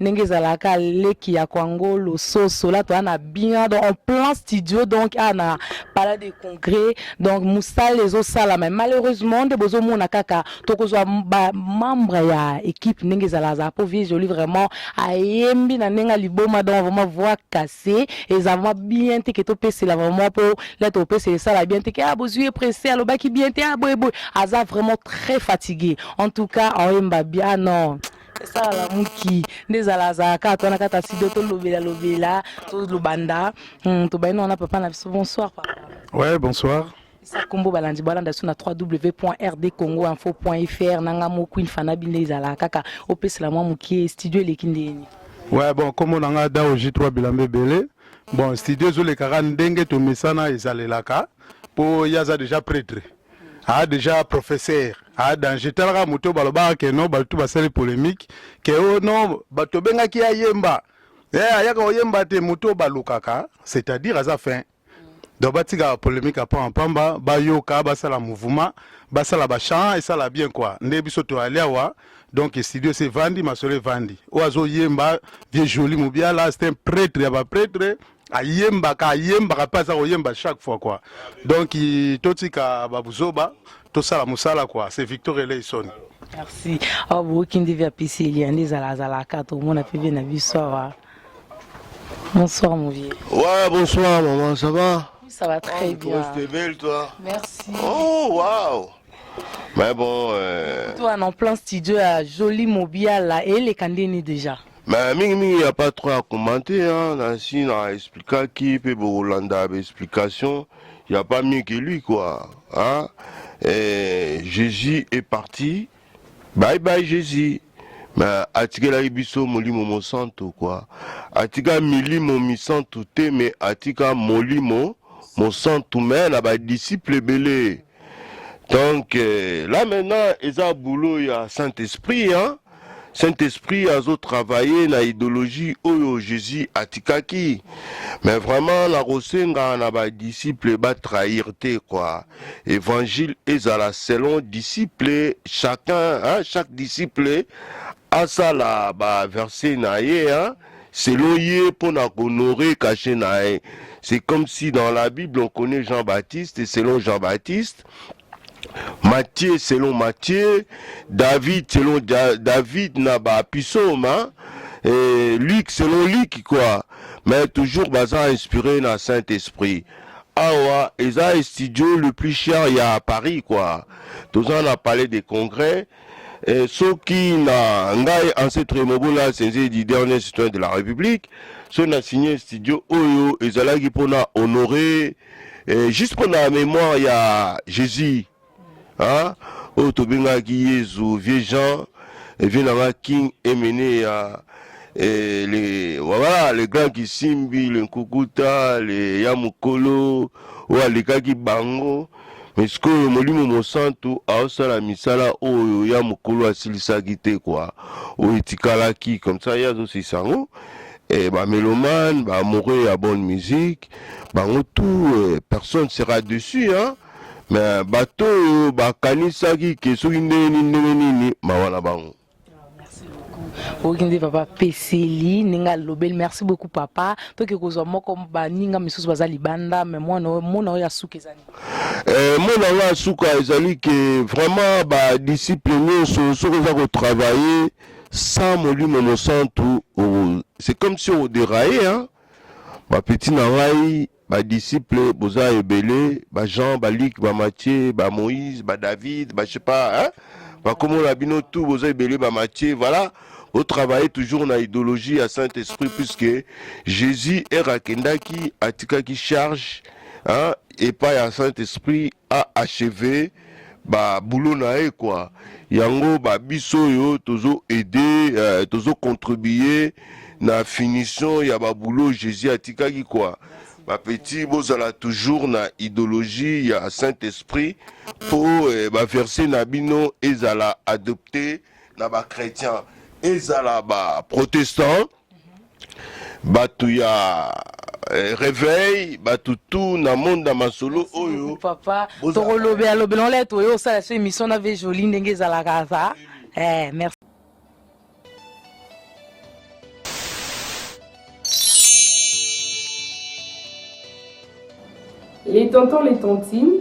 ndenge ezalaka leki ya kwango lososo la toa na bina donc en plein studio donc a na palais de congrès donc mosala ezosala mais malheureusement nde bozomona kaka tokozwa bamembre ya équipe ndenge ezala azala mpo vie jolie vraiment ayembi na ndenge ya liboma donc vraiment voix cassé eza vraiment bien te ke topesela vraiment mpo lete opesela esala bien te ke a ah, bozwi ye presse alobaki bien te a ah, boye boye aza vraiment très fatigué en tout cas oyemba bien ah non esala lamuki nde ezala azalaka ato wana kata sido tolobela lobela tolobanda hmm, tobandi na wana papa na biso bonsoir papa ouais bonsoir isa kombo balandi balanda biso na 3w point rd congo info point fr nanga mo queen fanabi nde ezalaka kaka opesela mwa mokie studio eleki ndeni ouais bon kombo na ngai dao j3 bilamba ebele bon studio ezolekaka ndenge tomesana ezalelaka mpo ye aza déjà pretre a deja professeur a danger talaka moto balobaka ke no bato basali polemique ke o oh, no tobengaki ye ayemba e eh, ayaka oyemba te moto balukaka c'est-à-dire aza fin donc batika polemique apama mpamba bayoka basala mouvement basala bachamp esala bien kua nde biso toyali awa donc studio se vandi masolo evandi oyo azoyemba vieux joli mobiala c'est un prêtre ya baprêtre ayembaka ayembaka mpe aza koyemba chaque fois quoi donc totika babuzoba tosala mosala quoi c'est victor eleison merci awa boyoki nde via pc elia nde ezala azalaka tomona mpe vie na biso awa bonsoir mon vieux ouais bonsoir maman ça va ça va très oh, bien tu belle toi merci oh waouh mais bon euh... toi en plein studio à joli mobiala et les candidats déjà Mais mingi mingi il n'y a pas trop à commenter hein. Nancy na explikaki pe bokolanda ba explication il n'y a pas mieux que lui quoi hein. Et Jésus est parti bye bye Jésus mais atikelaki biso molimo mosantu quoi atika milimo misantu te mais atika molimo mosantu mais na badisiple ebele donc euh, là maintenant eza boulot ya saint esprit hein? saint esprit azo travailler na idéologie oyo jésus atikaki mais vraiment nakosenga na badisciple batrahir te quoi évangile ezala selon disciple chacun hein? chaque disciple asala baverse na ye hein? Selon ye mpo na ko honorer cachet na ye. C'est comme si dans la bible on connait Jean-Baptiste et selon Jean-Baptiste, Matthieu selon Matthieu, David selon Ja- David na ba psaumes, hein, et Luc selon Luc quoi. Mais toujours baza inspiré na Saint-Esprit. Awa eza studio le plus cher ya Paris quoi. Toza na palais des congrès Eh, soki na ngai ancêtre mobola asenze du dernier citoyen de la république so na signe studio oyo ezalaki mpona honore eh, juste mpona mémoire ya jésus hein? oyo tobengaki yezu vieux jean eh, vieux nanga king emene ya eh, le, voilà, le grand kisimbi le nkukuta le ya mokolo oyo alekaki bango Mais sikoyo Molimo Mosantu aosala misala oyo ya mokolo asilisaki te kwa oyo etikalaki comme ça ye azosilisa yango eh, bamelomane baamoureux ya bonne musique bango tout eh, personne sera dessus hein? mais bato oyo bakanisaki ke soki ndenge nini ndenge nini mawa na bango oyoki nde papa apeseli ndenge alobeli merci beaucoup papa toke kozwa moko baninga misusu baza libanda me mwana oyo mona oyo ya suka ezali eh, mwana oyo ya suka ezali ke vraiment badisiple nyonso soki oza kotravaille sans molimo mosantu c'est comme si oderaye hein? bapeti na ngai Ba disciples boza ebele, ba Jean, ba Luc, ba Matthieu, ba Moïse, ba David, ba je sais pas, hein? Ba komo na bino tout boza ebele ba Matthieu, voilà. Au travailler toujours na idéologie ya Saint-Esprit puisque Jésus era kendaki atikaki charge hein, epai ya Saint-Esprit a acheve ba boulot na ye quoi yango ba biso oyo tozo aide euh, tozo contribuer na finition ya ba boulot Jésus atikaki quoi ba petit bozala toujours na idéologie ya Saint Esprit po eh, ba verset na bino ezala adopté na ba chrétiens ezala ba protestants bato ya eh, reveil bato tout na monde ya masolo oyo papa Bozala- tokolobela lobela ola ete oye osala so émission na vie jolie ndenge ezalaka aza eh, merci les tontons les tontines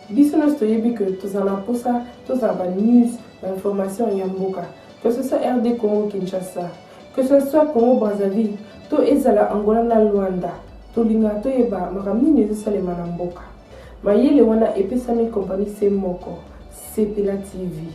biso nyonso toyebi ke tozala na mposa tozala banews bainformation ya mboka que ce soit rd congo kinshasa Que ce soit Congo Brazzaville to ezala Angola na Luanda, tolingaka toyeba makambo nini ezosalema na mboka. Mayele wana epesami kompani se moko, Sepela TV.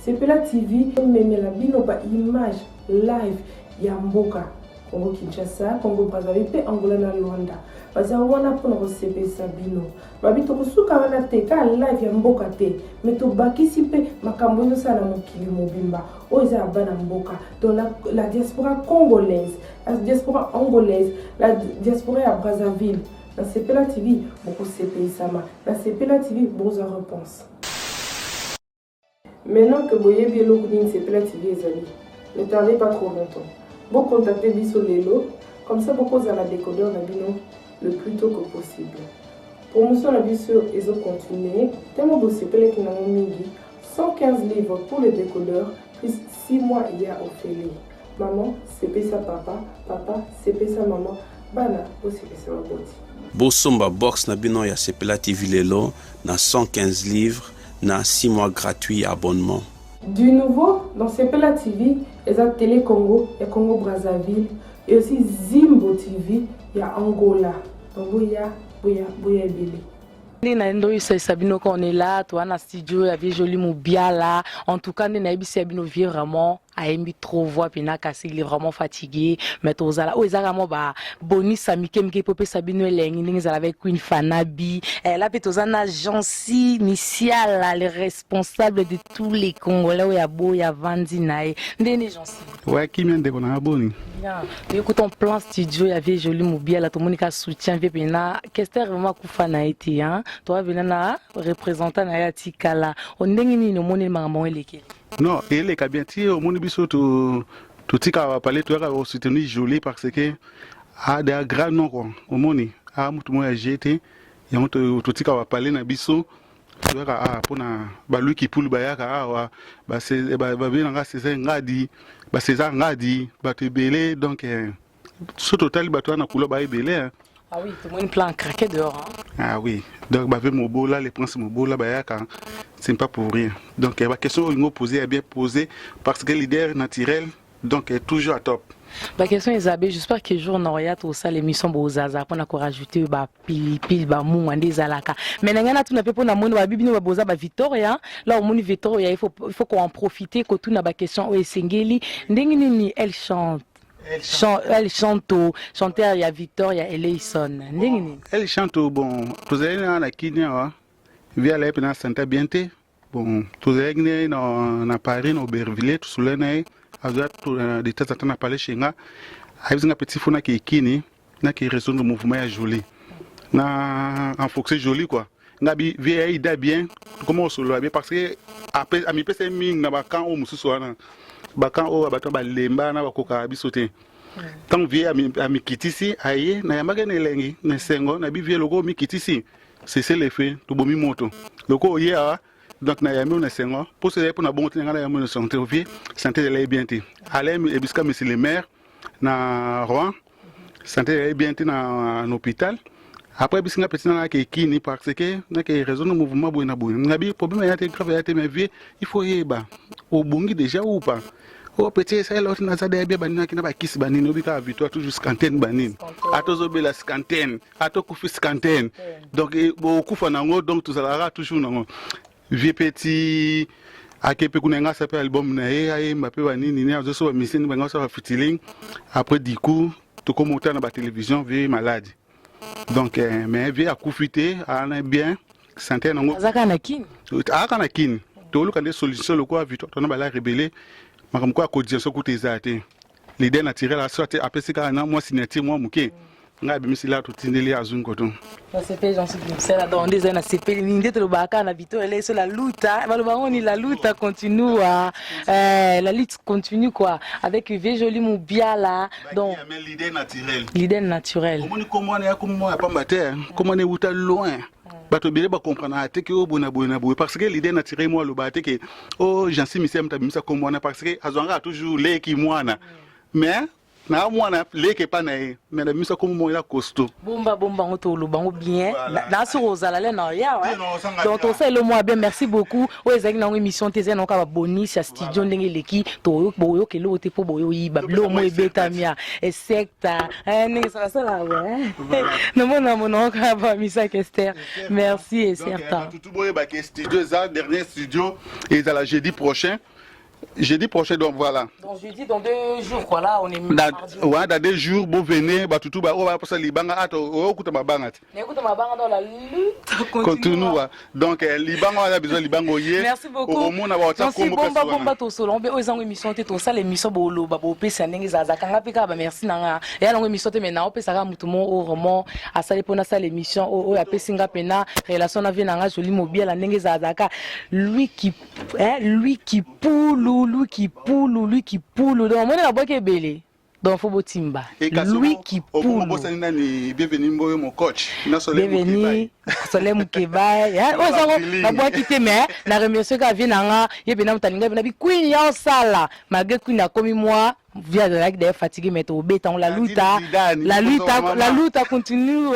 Sepela TV ememela bino ba image live ya mboka Congo Kinshasa, Congo Brazzaville mpe Angola na Luanda. Baza wana mpo na kosepelisa bino. babi tokosuka wana te kaka live ya mboka te me tobakisi mpe makambo ezosala na mokili mobimba oyo eza ya bana mboka donc la, la diaspora congolaise la diaspora angolaise la diaspora ya brazzaville na sepela tv bokosepeyisama na sepela tv bokozwa reponse Maintenant que boyebi eloko nini sepela TV ezali, ne tardez pas trop longtemps. Bo contacter biso lelo, comme ça bokozala decodeur na bino le plus tôt que possible. Promotion na biso ezo continuer, tellement bosepelaki nango mingi, 115 livres pour le décodeur plus 6 mois ya ofele. Maman sepesa papa, papa sepesa maman, bana bosepesa baboti. Bosomba box na bino ya Sepela TV lelo na 115 livres. na 6 mois gratuit ya abonnement. Du nouveau dans Sepela TV eza Tele Congo ya Congo Brazzaville et aussi Zimbo TV ya Angola. Donc boya boya boya ebele. nde na ndo oyesayisa bino ka on est là toa na studio ya vie jolie mobiala en tout cas nde nayebisi ya bino vie vraiment ayembi trop voix pena kasi il est vraiment fatigué mais tozala oyo ezalaka mwa ba bonisa mike mike mpo epesa bino elengi ndenge ezala avec queen fanabi eh, la mpe toza na jansi misiala le responsable de tous les congolais oyo aboya avandi na ye ndenge nde jansi oya kimia ndeko na nga boni toyekuta en plan studio ya vie joli mobiala tomoni ka soutien vie pena kester vraiment akufa na ye te toa vena na représentant na ye atikala o ndenge nini omoni makambo yango elekeli Non, eleka bien ti omoni biso tu totika ba palais toyaka ko soutenir Jolie parce que a ah, da grand nom quoi. Omoni a ah, mutu moya ya jete yango totika ba palais na biso toyaka a ah, pona ba Louis Kipulu bayaka awa ba ba ba nanga César Ngadi, ba César Ngadi, ba tebele donc eh, so totali bato wana kulo ba ebele hein. ah oui tomoni plan craqué dehors hein. ah oui donc bave mobola les princes mobola bayaka c'est pas pour rien donc eh, ba question oyo posé ya bien posé parce que leader naturel donc eh, toujours à top ba question ezabe j'espère que jour noria tosala émission bozaza mpo na korajouter bapilipili bamunga nde ezalaka mai na ngai natuna mpe mpo na moni babi bino baboza ba victoria la omoni victoria il faut, il faut koen profiter kotuna baquestion oyo esengeli ndenge nini elle chante Chan El Chanto, chanteur ya Victor ya Eleison. Ndenge nini? El Chanto bon tozali na na Kenya wa via la na santa bien te. Bon tozalaki ne na na Paris na Aubervilliers tosolani na ye azwa de temps en temps na palais chez nga ayebisi nga petit fona ke ekini na ki resonga mouvement ya jolie na enfoxe jolie quoi nga bi vie aida bien tokoma kosolola bien parce que amipesa ye mingi na bakan oyo mosusu wana bakan oyo ya bato balemba na bakokaka biso te ntango vie amikitisi aye nayambaki na elengi na esengo na bi vie lokola omikitisi sese lefe tobomi moto lokola oye awa donc na yambi na sengo poso ezali mpo na bongo te na ngai na yambi na santé ovie santé ezalaki bien te alaye ebisika monsieur le maire na Rouen santé ezali bien te na hôpital après bisi nga peti nanga ke kini parce que na ke raison no mouvement boye na boye nga bi problème ya te grave ya te mais vie il faut yeba obongi déjà ou pas o oh, peti esalela oti naza deya bia baninaki na bakisi banini obi kaka victoire toujours scantene banini ata ozobela scantene ata okufi scantene donc eh, bokufa nango donc tozalaka toujours nango Vieux Petit ake pe kuna nga sa pe album na ye ayemba pe banini ne azoso ba musicien ba ngasa ba fitiling après du coup tokoma uta na ba télévision vie malade donc eh, mais vie akufi te ana bien santé nango azaka na kin aka na kin toluka nde solution lokola victoire tona bala rebele makambo ko ya cotisation kuta eza te l'idée naturelle à soit apesi kaka na moi signature moi muke ngai abimisi la totindeli ye azwi nkoto nasepeli nansipimsela donc nde ezali nasepeli mingi nde tolobaka kaka na bito eleso la luta baloba yango ni la luta continua eh, la lutte continue quoi avec vie jolie mubiala donc l'idée naturelle l'idée naturelle omoni kombo wana ya kombo ya pamba te kombo wana ewuta loin bato ebele bacomprenaka te ke oyo boye na boye na boye parce que leader naturel mwa alobaka te ke o oh, jansi misia moto abimisa kombo wana parce que azwangaka toujours leki mwana mais na mwana leke epa na ye me na biso akomi moko ya costo bomba bomba yango toloba yango bien na soki ozala le na ya donc tosala elo mwa bien merci beaucoup oyo ezalaki nango émission te ezali nango kaka babonisi ya studio ndenge eleki boyoka eloko te mpo boyoyiba bilomo ebetami ya esek ta eh, ndenge salasala namona monoko ya bamisaki ester merci et certain tutu boyebaki studio eza dernier studio ezala jeudi prochain jeudi prochain donc voilà donc jeudi dans deux jours quoi là on est dans, ouais, dans deux jours bo venez batutu ba oyo baposa libanga ata oyokuta mabanga te kotunua donc eh, libango aza besoin libango ye okomona baotakombomba tosolo mpe oyo ezango émission te tosala émission boloba bopesi ya ndenge ezalazaka nga mpe kaka bamerci na nga eya nango émission te mai naopesaka motu mo oyo vraiment asali mpo nasala émission oyo apesi nga mpena relation na vie na nga joli mobiala ndenge ezalazaka lui qui eh, lui qui poulu lui qui poulu lui qui poulu donc omoni nabwaki ebele Donc faut botimba Louis Kipulu. Obosani nani bienvenue mboyo mon coach. Na Soleil Mukebay. Soleil Mukebay. Ya ozango na bwa kite mais na remercier ka vie nanga ye bena mutalinga bena bi queen ya osala malgré queen akomi moi via de like d'ailleurs fatigué mais to beta on la luta la luta la luta continue.